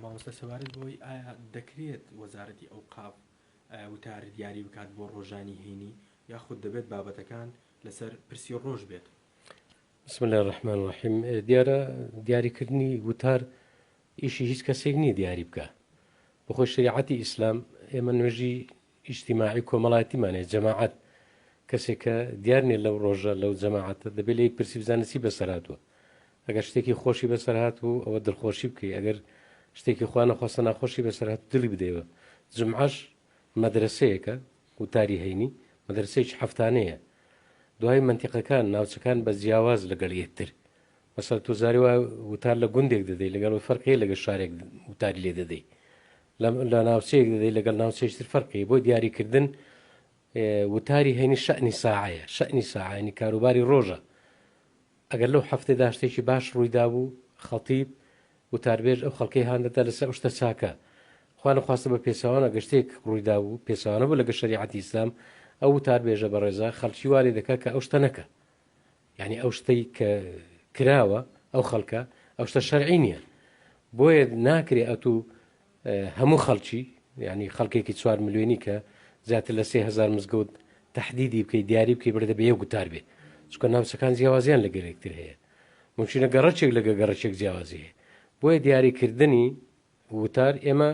مامۆستا سەبارەت بەوەی ئایا دەکرێت وەزارەتی ئەوقاف وتار دیاری بکات بۆ ڕۆژانی هەینی یاخود دەبێت بابەتەکان لەسەر پرسی ڕۆژ بێت بسم الله الرحمن الرحیم دیارە دیاریکردنی وتار ئیشی هیچ کەسێک نییە دیاری بکە بخۆ شریعەتی ئیسلام ئێمە نوێژی ئیجتیماعی کۆمەڵایەتیمان هەیە، جەماعەت، کەسێک کە دیار نیە لەو ڕۆژە لەو جەماعەتە دەبێت لێی پرسی بزانێت چی بەسەرهاتووە. ئەگەر شتێکی خۆشی بەسەرهاتبوو ئەوە دڵخۆشی بکەی، ئەگەر شتێکی خوا نەخواستە ناخۆشی بەسەرهات دڵی بدەیەوە. جومعەش مەدرەسەیەکە، وتاری هەینی، مەدرەسەیەکی هەفتانەیە. دوایی مەنتیقەکان، ناوچەکان بە جیاواز لەگەڵ یەکتر. مەسەڵەن تۆ جارێ وایە وتار لە گوندێک دەدەی لەگەڵ ئەوەی فەرق هەیە لەگەڵ شارێک وتاری لێ دەدەی. لە لە ناوچەیەک دەدەی لەگەڵ ناوچەیش تر فەرقی بۆ دیاریکردن وتاری هەینی شەعنی ساعەیە شەعنی ساعانی کاروباری ڕۆژە ئەگەر لەو هەفتێ داشتێکی باش ڕوویدا بوو خەڵتیب وتاربێژ ئەو خەڵکەی هاندەدا لەسەر ئەوشتە چاکە خوانە خواستە بە پێچوانە گەشتێک ڕوویدا بوو پێچوانە بوو لەگە شریعەتی ئیسلام ئەو وتاربێژە بەڕێزە خەڵکی وارێ دەکات کە ئەو شتە نەکە یانی ئەو شتەی کە کراوە ئەو خەڵکە ئەو شتە شەرعی نییە بۆیە ناکرێ ئەتو هەموو خەڵکی ینی خەڵکێکی چوار ملیۆنی کە زیاتر لە سهزار مزگەوت تهدیدی بکەی دیاری بکەی بردە بە یەک گوتار بێ چکە ناوچەکان جیاوازیان لە گەرێکتر هەیە ممکنە گەڕەچێک لەگە گەڕەچێک جیاوازی هەیە بۆیە دیاریکردنی ووتار ئێمە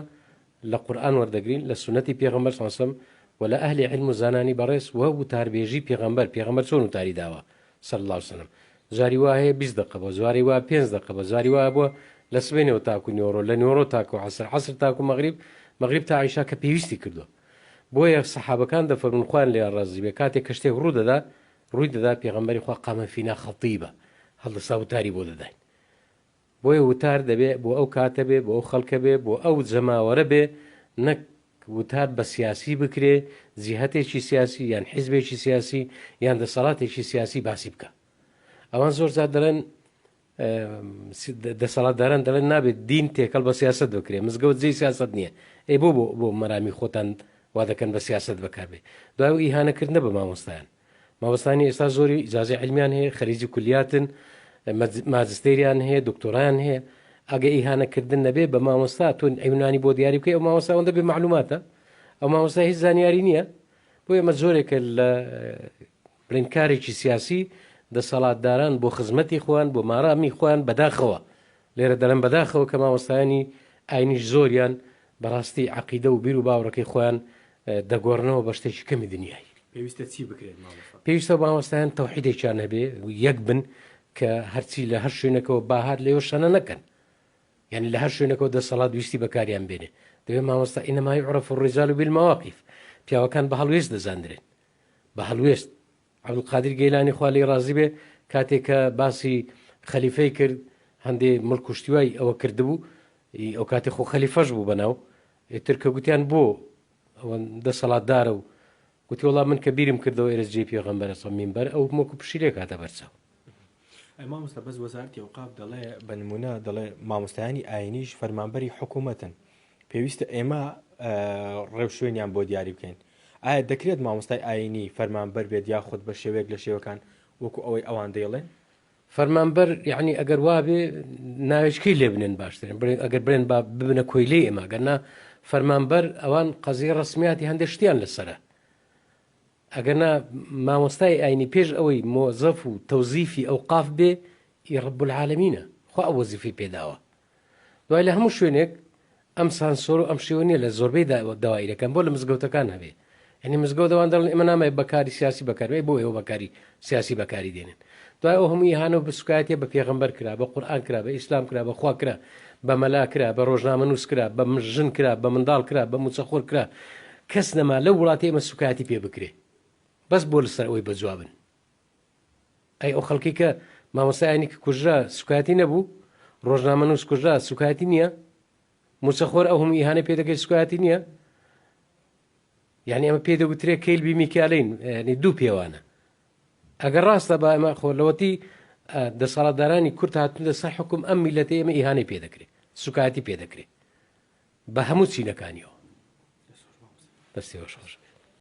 لە قورئان وەردەگرین لە سوننەتی پێغەمبەر صلی سەم وە لە ئەهلی عیلم و زانانی بەڕێز وە ووتاربێژی پێغەمبەر پێغەمبەر چۆن ووتاری داوە صلی اللە وسلم جاری وا هەیە بیست دەقە بوە جواری وا پێنج دەقە بوە جاری وا بوە لە سبەینێوە تاکو نیۆڕۆ لە نیۆڕۆ تاکو عەسر عەسر تاکو مەغریب مەغریب تا عیشا کە پێویستی کردوە بۆیە سەحابەکان دەفەرمون خوان لێیان ڕازی بێ کاتێ کە شتێک ڕوو دەدا ڕووی دەدا پێغەمبەری خوا قامە فینا خەتیبە هەڵدەسا ووتاری بۆ دەداین بۆیە وتار دەبێ بۆ ئەو کاتە بێ، بۆ ئەو خەڵکە بێ، بۆ ئەو جەماوەرە بێ، نەک وتار بە سیاسی بکرێ، جیهەتێکی سیاسی یان حیزبێکی سیاسی یان دەسەڵاتێکی سیاسی باسی بکا. ئەوان زۆر جار دەڵێن دەسەڵاتداران دەڵێن نابێت دین تێکەڵ بە سیاست بکرێ، مزگەوت جێی سیاست نییە. ئەی بۆ بۆ بۆ مەرامی خۆتان وا دەکەن بە سیاست بەکاربێ. دوای ئیهانەکردنە بە مامۆستایان. مامۆستانی ئێستا زۆری ئیجازەی علمیان هەیە خەریجی کولیاتن ماجستێریان هەیە دکتۆران هەیە ئەگە ئیهانەکردن نەبێ بە مامۆستا تۆ ئەیونانی بۆ دیاری بکەی ئەو مامۆستا ئەوەندە بێ معلوماتە ئەو مامۆستا هیچ زانیاری نییە بۆ ئێمە زۆرێکە لە بڵین کارێکی سیاسی دەسەڵاتداران بۆ خزمەتی خۆیان بۆ مارامی خۆیان بەداخەوە لێرە دەڵێم بەداخەوە کە مامۆستایانی ئاینیش زۆریان بەڕاستی عەقیدە و بیر و باوڕەکەی خۆیان دەگۆڕنەوە بە شتێکی کەمی دنیای. پێویستە چی بکرێت مامۆستا؟ پێویستە مامۆستایان تەوحیدێکیان هەبێ یەک بن کە هەرچی لە هەر شوێنەکەوە باهات لەوێ شەنە نەکەن. یعنی لە هەر شوێنەکەەوە دەسەڵات ویستی بەکاریان بێنێ دەوێ مامۆستا ئینەمای عرف و ڕیزال و بیلمەواقیف پیاوەکان بە هەڵوێست دەزاندرێن بە هەڵوێست عبدالقادر گەیلانی خوا لێی ڕازی بێ کاتێ کە باسی خەلیفەی کرد هەندێ مل کوشتیوای ئەوە کردبوو ئەو کاتی خۆ خەلیفەش بوو بەناو ترکە گوتیان بۆ ئەوە دەسەڵاتدارە و گوتی وڵام من کە بیرم کردەوە ئێرز جێ پێغەمبەرە سەمین بەر ئەو مۆکو پشیلێک هاتە بەرچاو ئەی مامۆستا بەس وەزارەتی ئەوقاف دەڵێ بە نمونە دەڵێ مامۆستایانی ئاینیش فەرمانبەری حکوومەتن پێویستە ئێمە ڕێوشوێنیان بۆ دیاری بکەین ئایا دەکرێت مامۆستای ئاینی فەرمان بەر بێت یاخود بە شێوەیەک لە شێوەکان وەکو ئەوەی ئەوان دەیڵێن فەرمانبەر یعنی ئەگەر وابێ ناوێچکەی لێ بنێن باشترێن بڵێن ئەگەر برێن با ببنە کۆیلەی ئێمە گەرنا فەرمانبەر ئەوان قەزیە ڕسمیاتی هەندێک شتیان لەسرە ئەگەرنا مامۆستای ئاینی پێش ئەوەی مۆزەف و تەوزیفی ئەوقاف بێ ی رب العالمینە خوا ئەو وەزیفەی پێداوە دوای لە هەموو شوێنێک ئەم سانسۆر و ئەم شێوە نیە لە زۆربەی داوائیرەکان بۆ لە مزگەوتەکان هەبێ یعنی مزگەوت ئەوان دەڵن ئێمە نامەوێ بەکاری سیاسی بەکاربێ بۆ ئێوە بەکاری سیاسی بەکاری دێنن دوای ئەو هەموو ئیهانە و سوکایەتیە بە پێغەمبەر کرا بە قورئان کرا بە ئیسلام کرا بە خوا کرا بە مەلا کرا بە ڕۆژنامەنووس کرا بە ژن کرا بە منداڵ کرا بە موچەخۆر کرا کەس نەما لەو وڵاتی ئێمە سوکایەتی پێ بکرێ بەس بۆ لەسەر ئەوەی بەجوابن ئەی ئەو خەڵکی کە مامۆستا ئاینی کە کوژرا سوکایەتی نەبوو ڕۆژنامە نووس کوژرا سوکایەتی نییە موچەخۆر ئەو هەموو ئیهانە پێ دەکەی سوکایەتی نییە یانی ئەمە پێی دەگوترێ کەیلبی میکالین یعنی دوو پێوانە ئەگەر ڕاستە با ئەمە خۆ لەوەتی دەسەڵاتدارانی کورت هاتن لە سەر حکوم ئەم میلەتی ئێمە ئیهانەی پێ دەکرێت سوکایەتی پێ دەکرێت بە هەموو چینەکانیەوە دەستێوە شۆش